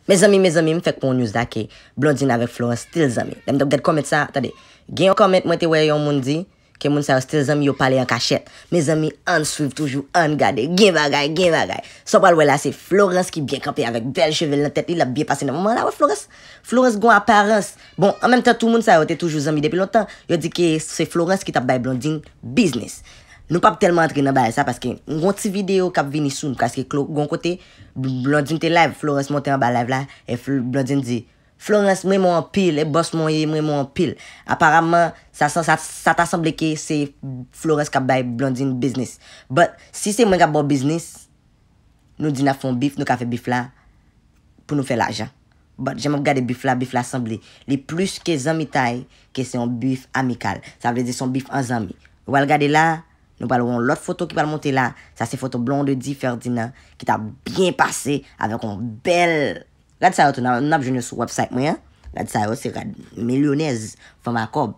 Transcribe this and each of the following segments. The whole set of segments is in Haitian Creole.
Mezanmi mezanmi m fèk pran yon news la ke Blondine avèk Florence still zanmi lèm t ap gad comment sa tande gen yon comment mwen te wè yon moun di ke moun sa yo still zanmi yo pale an kachèt mezanmi ann swiv toujou ann gade gen bagay gen bagay sa w pral wè la se Florence ki byen kanpe avèk bèl cheve l nan tèt li l ap byen pase nan moman an la wè Florence Florence gon aparans bon an menm tan tou moun sa yo te toujou zanmi depi lontan yo di ke se Florence ki t ap bay Blondine biznis nou p ap tèlman antre nan bagay sa paske m gon ti video k ap vini sou m preske klo gon kote. Blondine te live Florence monte anba live la e Blondine di Florence m renmen w anpil e bòs mwen w ye m renmen w anpil aparamman sa ta sanble ke se Florence kap bay Blondine biznis but si se mwen kap baw biznis nou di nap fè yon bif nou ka fè bif la pou nou fè lajan but jan map gade bif la bif la sanble li plis ke zanmitay ke se yon bif amikal sa vle di se yon bif an zanmi wal gade la Nou pral wè yon lòt foto ki pral monte la, sa se foto Blondedy Ferdinand ki ta byen pase avèk yon bèl Rad sa yo tou n ap jwenn yo sou wèbsayt mwen an, rad sa yo se rad milyonèz, fanm a kòb.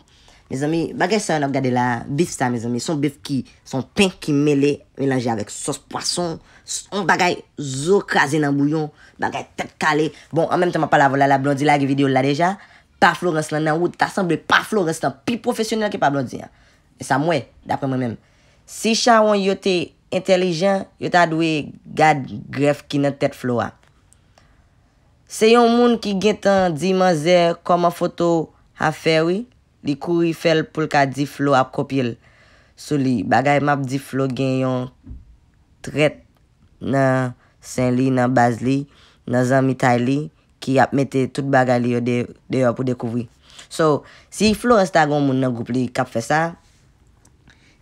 Mezanmi, bagay sa yo n ap gade la a, bif sa mezanmi, se yon bif ki, se yon pen ki mele, melanje avèk sòs pwason, yon bagay zo kraze nan bouyon, bagay tèt kale. Bon, an menm tan m ap pale avè w la la, Blondy lage videyo l la deja, pa Florence lan nan wout, ta sanble pa Florence lan pi pwofesyonèl ke pa Blondy an. E sa m wè, daprè mwen menm. Si chawony yo te entèlijan, yo ta dwe gad grèf ki nan tèt Flo a. Se yon moun ki gentan di manzè kòman foto a fè wi, li kouri fè l pou l ka di Flo ap kopye l sou li. Bagay m ap di Flo gen yon trèt nan sen li, nan baz li, nan zanmitay li ki ap mete tout bagay li yo deyò pou dekouvri. So, si Florence ta gen yon moun nan gwoup li kap fè sa,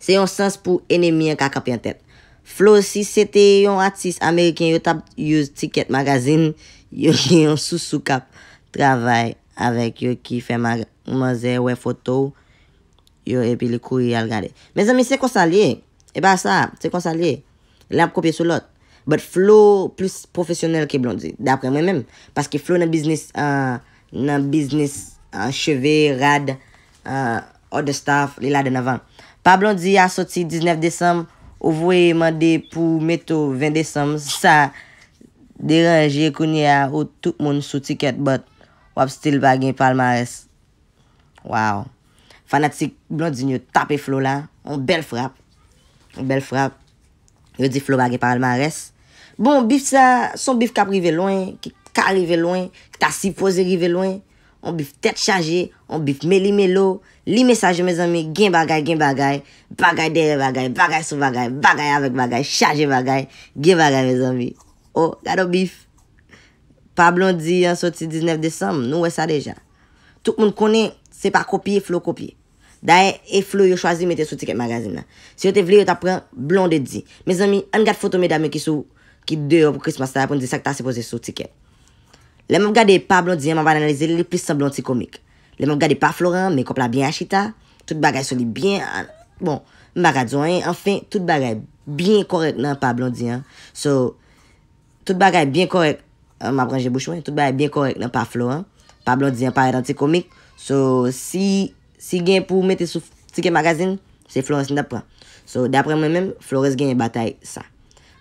se yon sans pou enemi an ka kanpe an tèt. Flo si se te yon atis ameriken yo tap use ticket magazine yo gen yon sousou kap travay avèk yo ki fè manzè wè foto w yo epi li kouri al gade. Mezanmi se konsa l ye, e pa sa, se konsa l ye. Lè ap kopye sou lòt. But Flo plis pwofesyonèl ke Blondy. Daprè mwen menm. Paske Flo nan biznis nan biznis cheve, rad, other stuff li ladann anvan. Pa Blondy a soti 19 desanm ou voye mande pou meto 20 desanm sa deranje kounye a ou tout moun sou ticket but wap still pa gen palmarès. Wow. Fanatik Blondine yo tape Flo la, yon bèl frap, yon bèl frap. Yo di Flo pa gen palmarès. Bon, bif sa, se yon bif k ap rive lwen, ki ka rive lwen, ki ta sipoze rive lwen. Yon bif tèt chaje, yon bif meli melo. Li mesaj yo mezanmi, gen bagay, gen bagay. Bagay dèyè bagay, bagay sou bagay, bagay avèk bagay, chaje bagay. Gen bagay mezanmi. O, gad yon bif! Pa Blondie an soti 19 desanm, nou wè sa deja. Tout moun konnen se pa kopye Flo kopye. Dayè e Flo yo chwazi mete sou ticket magazine nan. Si yo te vle yo tap pran Blondedy. Mezanmi ann gad foto medam yo ki sou ki deyò pou Christmas la pou n di sak ta sipoze sou ticket. Lè map gade pa Blondie an map analize l li plis sanble yon ti komik. Lè map gade pa Florent an mekòp la byen achita, tout bagay sou li byen an bon m paka di w anyen anfen tout bagay byen kòrèk nan pa Blondie an so Tout bagay byen kòrèk An map ranje bouch mwen Tout bagay byen kòrèk nan pa Flo an Pa Blondie an parèt an ti komik So si si gen pou mete sou Ticket Magazine Se Florence m tap pran So daprè mwen menm Florence genyen batay sa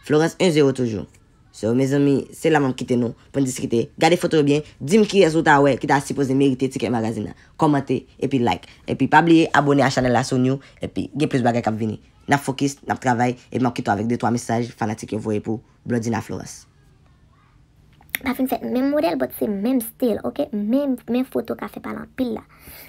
Florence 1 zero toujou So mezanmi se la map kite nou Poun diskite Gade foto yo byen Dim kiyès ou ta wè ki ta sipoze merite Ticket Magazine nan Kòmante epi like Epi pa bliye abone a chanèl la si w new Epi gen plis bagay kap vini Nap fokis Nap travay Epi map kite w avèk de twa mesaj fanatik yo voye pou Blondina Florence. Pa fin fèt menm modèl but se menm still ok menm men foto ka fè pale anpil la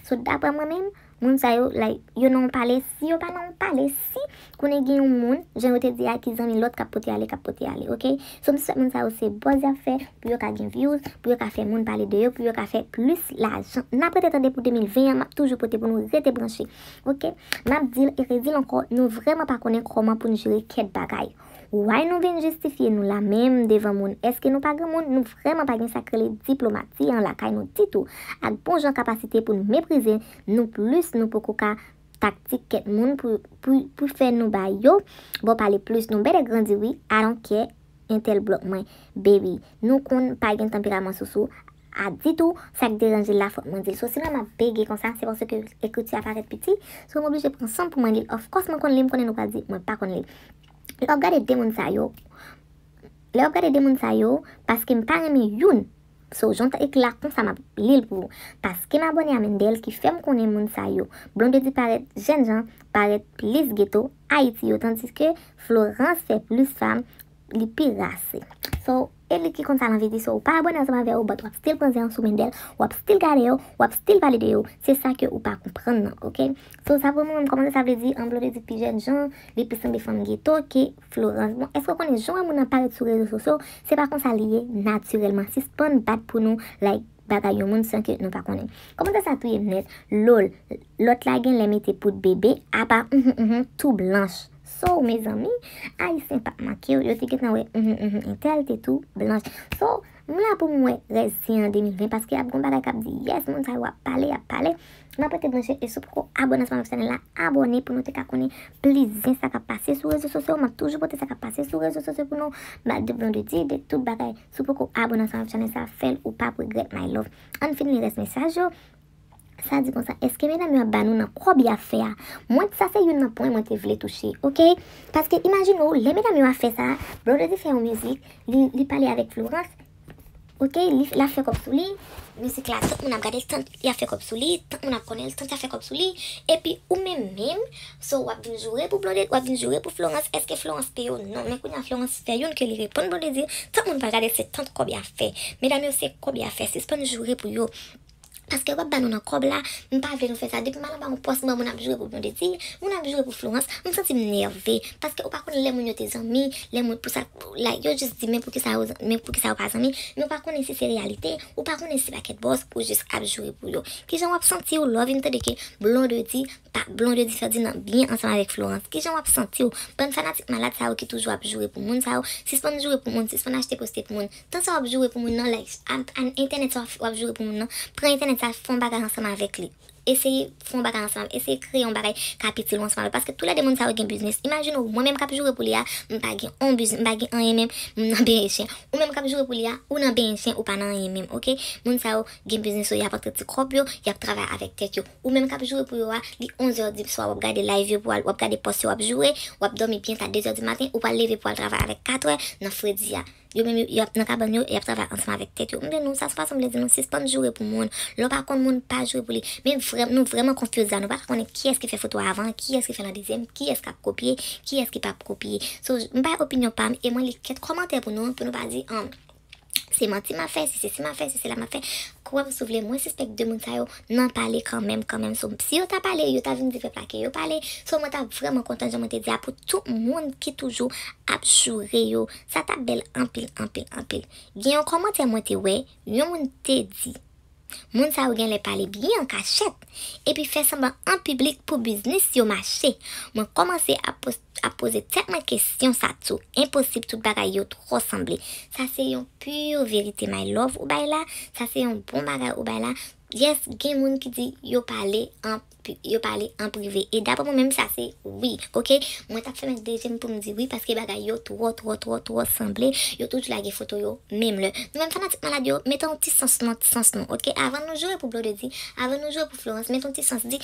so daprè mwen menm moun sa yo like yo nan yon pale si yo pa nan yon pale si konnen gen yon moun jan yo te di a ki zanmi lòt kap pote ale kap pote ale ok so m swèt moun sa yo se buzz yap fè pou yo ka gen views pou yo ka fè moun pale de yo pou yo ka fè plis lajan nap rete tande pou 2020 an map toujou pote pou nou rete branche ok map dil e redil ankò nou vrèman pa konnen kòman pou n jere kèk bagay. Why nou vin jistifye nou la menm devan moun eske nou pa granmoun nou vrèman pa gen sak rele diplomati an lakay nou ditou ak bon jan kapasite poun meprize nou plis nou poko ka taktik kèt moun pou pou fè nou ba yo bon pale plis nou bèlè grandi wi I don't care entèl blòk mwen baby nou konn pa gen tanperaman sousou a di tou sak deranje l la fòk mwen di l so si mwen ap bege konsa se paske ekriti a parèt piti so m oblije pran san m pou mwen li l of kòs mwen konn li m konnen nou pral di mwen pa konn li lè w ap gade 2 moun sa yo lè w ap gade 2 moun sa yo paske m pa renmen youn so jan w ta ekri la konsa m ap li l pou ou paske m abòne a Mendel ki fè m konnen moun sa yo Blondedy parèt jèn jan parèt plis geto Ayiti yo tandiske Florence fè plis fanm li pi rase so. Elit ki konn sa lan viti so ou pa abone ansanm avè yo but wap still pran zen an sou mendel wap still gade yo wap still pale de yo se sa ke ou pa konprann nan ok so sa pou nou menm kòmanse sa vle di anblo vle di pi jèn jan li plis sanble fanm geto ke florans bon eske ou konnen jan wè moun nan parèt sou rezo sosyo se pa konsa li ye natirèlman sispann bat pou nou like bagay yon moun san ke nou pa konnen kòmantè sa touyem nèt loll lòt la genlè mete poud bebe apa uhmm uhmm tou blanch So mezanmi, ayisyen pap mankew, yo te gentan wè uhmm uhmm entèl te tou blanch. So, m la pou m wè rès di an 2020 paske ap gon bagay kap di yes moun sa yo ap pale ap pale. Map rete branche e si w poko abone ansanm avèk chanèl la, abone pou nou te ka konnen plis zen sa kap pase sou rezo sosyo, map toujou pote sa kap pase sou rezo sosyo pou nou, bat de blon de di de tout bagay. Si w poko abone ansanm avèk chanèl sa, fèl ou pap regrèt my love. Ann fin li rès mesaj yo. Sa di konsa, eske medam yo ap ba nou nan kòb ya fè a? Mwen t sa se youn nan pwen mwen te vle touche, ok? Paske imajine w, lè medam yo a fè sa, Blondedy fè yon mizik, li li pale avèk Florence, ok, li la fè kòb sou li, mizik la tout moun ap gade l tant ya fè kòb sou li, tant moun ap konnen l, tant ya fè kòb sou li, epi ou menm menm, so wap vin joure pou Blondedy, wap vin joure pou Florence, eske Florence peye w? Non, men kounya Florence fè youn ke li reponn Blondedy, tant moun pral gade l se tant kòb ya fè. Medam yo se kòb ya fè, sispann joure pou yo. Paske wap ba nou nan kòb la m pa vle nou fè sa depi m al anba yon pòs banm moun ap joure pou blondedy moun ap joure pou florans m santi m nève paske ou pa konn lè moun yo te zanmi lè moun pou sa like yo jis di men poukisa yo men poukisa yo pa zanmi men ou pa konnen si se reyalite ou pa konnen si se pakèt bòz ou jis ap joure pou yo kijan wap santi w lè w vin tande ke blondedy pa blondedy ferdinand byen ansanm avèk florans kijan wap santi w bann fanatik malad sa yo ki toujou ap joure pou moun sa yo sispann joure pou moun sispann achte poste pou moun Tan sa wap joure pou moun nan like ak entènèt sa wap joure pou moun nan pran entènèt sa fon bagay ansanm avèk li eseye fon bagay ansanm avèk eseye kreye yon bagay kap itil ou ansanm avèk paske tou lè 2 moun sa yo gen biznis imajine ou mwen menm kap joure pou li a mpa gen on biznis mpa gen anyen menm m nan benyen chen ou menm kap joure pou li a ou nan benyen chen ou pa nan anyen menm ok moun sa yo gen biznis yo yap antre ti kòb yo yap travay avèk tèt yo ou menm kap joure pou yo a li 11 heures di swa wap gade live yo pou al wap gade pòs yo wap joure wap dòmi byen ta 2 heures di maten ou pral leve pou al travay avèk 4 heures nan fredi a. Yo menm yo ap nan kabann yo e y ap travay ansanm avèk tèt yo. M di nou, sa se fason m vle di nou, sispann joure pou moun. Lè w pa konn moun, pa joure pou li. Men vrèm, nou vrèman konfyouz la, nou pa ka konnen kiyès ki fè foto a avan, kiyès ki fè l an dezyèm, kiyès k ap kopye, kiyès ki p ap kopye. So, m bay opinyon pa m e mwen li kèk kòmantè pou nou, pou nou pa di, an, se manti m ap fè, se sesi m ap fè, se sela m ap fè. Kwè m si w vle, mwen sispèk de moun sa yo nan pale kanmenm, kanmenm. So, si yo ta pale, yo ta vin di pèp la ke yo pale. So, mwen ta vrèman kontan, jan mwen te di a, pou tout moun ki toujou ap joure yo Sa tap bèl anpil anpil anpil. Gen yon kòmantè mwen te wè yon moun te di Moun sa yo genlè pale byen an kachèt epi fè sanblan an piblik pou biznis yo mache mwen kòmanse ap poze tèt mwen kesyon sa tou enposib tout bagay yo twò sanble sa se yon pur verite my love ou bay la sa se yon bon bagay ou bay la yes gen moun ki di yo pale an Pu yo pale an prive e daprè mwen menm sa se wi ok mwen tap fèmen dezyèm poum di wi paske bagay yo twò twò twò twò sanble yo toujou lage foto yo menm lè nou menm fanatik malad yo mete yon ti sans nan sans nou ok avan nou joure pou blondedy avan nou joure pou florence mete yon ti sans di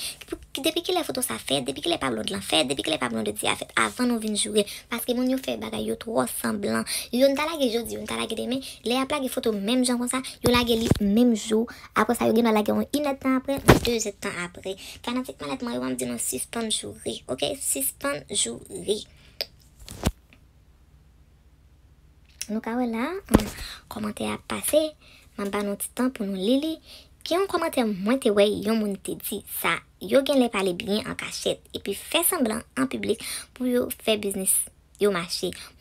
depi kilè foto sa fèt depi kilè pa blond lan fèt depi kilè pa blondedy a fèt avan nou vin joure paske moun yo fè bagay yo twò sanblan youn ta lage jodi youn ta lage demen lè yap lage foto menm jan konsa yo lage li menm jou Apre sa yo gendwa lage yon inèd tan apre, yon dezèd tan apre. Fanatik malad mwen yo an m di nou sispann joure ok sispann joure. Nou ka wè la kòmantè ap pase map ba nou ti tan pou nou li li. Gen yon kòmantè mwen te wè yon moun te di sa yo genlè pale byen an kachèt epi fè sanblan an piblik pou yo fè biznis yo mache.